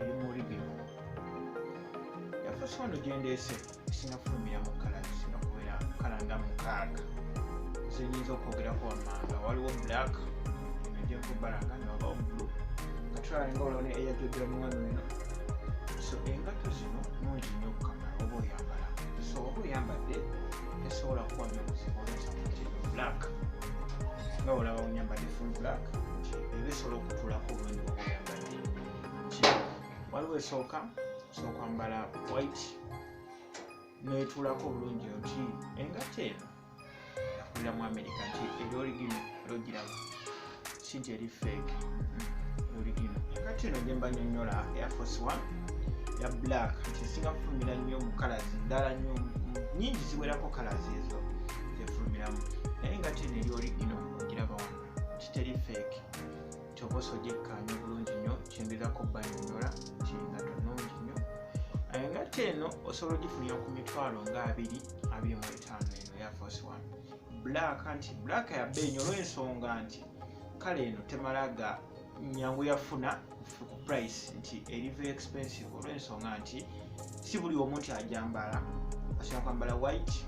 ebimuli bino yafuusa ono gyendeese sinafulumira mu kala zisinakubeera kala nga mukaaga zenyinza okwogerako wammanga waliwo black ejokubalanga newabawo blu nga tulalinga olone eyajogera muwano eno so engatto zino nungi nnyo okukamala oba oyambala so oba oyambadde tesobola kuwa nyo buzibu olesa nti black nga olaba onyambadde full black ebisobola okutulako obwendu oba oyambadde waliwo esooka osooka mbala white netulako obulungi nti engatta eno yakulira mu amerika nti eri origino logiraba si nti eri fake hmm, origino engatta eno gyemba nyonyola airforce one ya black nti esinga kufulumira nnyo mu kalazi ndala nnyo nyingi ziwerako kalazi ezo zefulumiramu naye engatta eno eri origino ogiraba wano kiteri fake kyoba osojekkaanya bulungi nnyo kyembirako banyonyola nti nga tunungi nnyo eh, ngatte eno osobola ogifunira ku mitwalo nga abiri abiri mu etaano eno ya fos one black nti black yabba enyo olwensonga nti kale eno temala ga nyangu yafuna ku price nti eriva expensive olwensonga nti si buli omu nti ajambala asobola kwambala white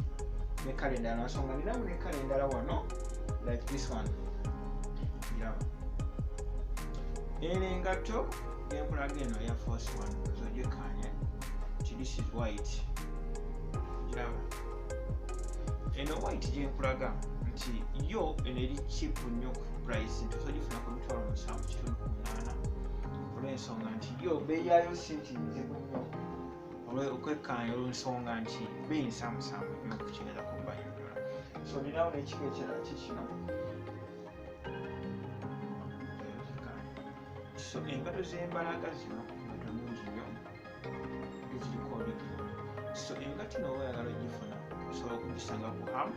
ne kale endala nansonga ninamu ne kale endala wano like this one giraba eno engatto genkulaga eno eya force one zojekanye ti this is white giraba eno white gyenkulaga nti yo eno eri chip nnyo ku price nti osogifuna ku mitwalo musanvu kitundu ku munaana olw'ensonga nti yo beeyayo si nti nzibu okwekkaanya olwensonga nti beyinsamusaamu nyo okukigeeza ku bayonyola so ninawo nekiko ekirala kikino so engato zembalaga zino ngato nungi nyo eziriko olugero so engatino oba oyagala ogifuna osobola okugisanga ku hamu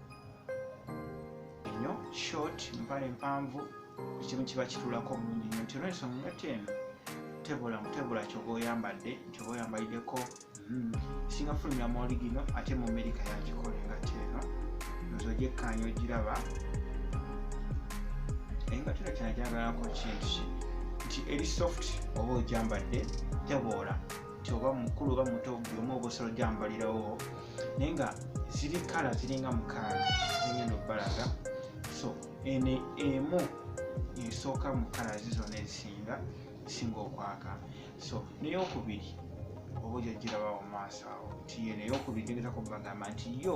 enyo short mpale mpanvu ekimu kiba kitulako bulungi nyo nti olwensonga engatto eno tebula mutebula kyoba oyambadde kyoba oyambaliddeko hmm. singa fulumira mu oligino ate mu amerika yagikola engatto eno nze ogyekkaanya ogiraba engatto eno kyana gyagalako kintu nti eri soft oba ogyambadde teboola nti oba mukulu oba muto buli omu ogosolo gyambalirawo naye nga ziri kala ziringa mukaaga zigenda okubalaga so ene emu esooka mu kala zizona ezisinga esinga okwaka so neyokubiri oba ojajirabawo maaso awo nti yo neyokubiri tegezako bagamba nti yo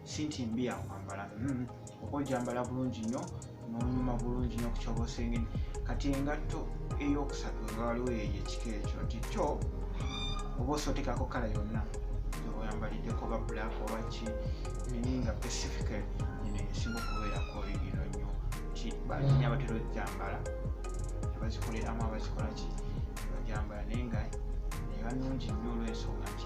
siiti mbi yakwambala mm-hmm. oba ojambala bulungi nnyo nonyuma bulungi nnyo kukyoba osengeni kati engatto eyokusatu nga waliwo yeyo ekika ekyo nti kyo oba osotekako kala yonna oyambaliddeko oba black oba ki nini nga pacifical ino esinga okubeerako ino nnyo nti balinya batera ojambala abazikoleramu abazikolaki bajambala naye nga nebanungi nnyo olwensonga nti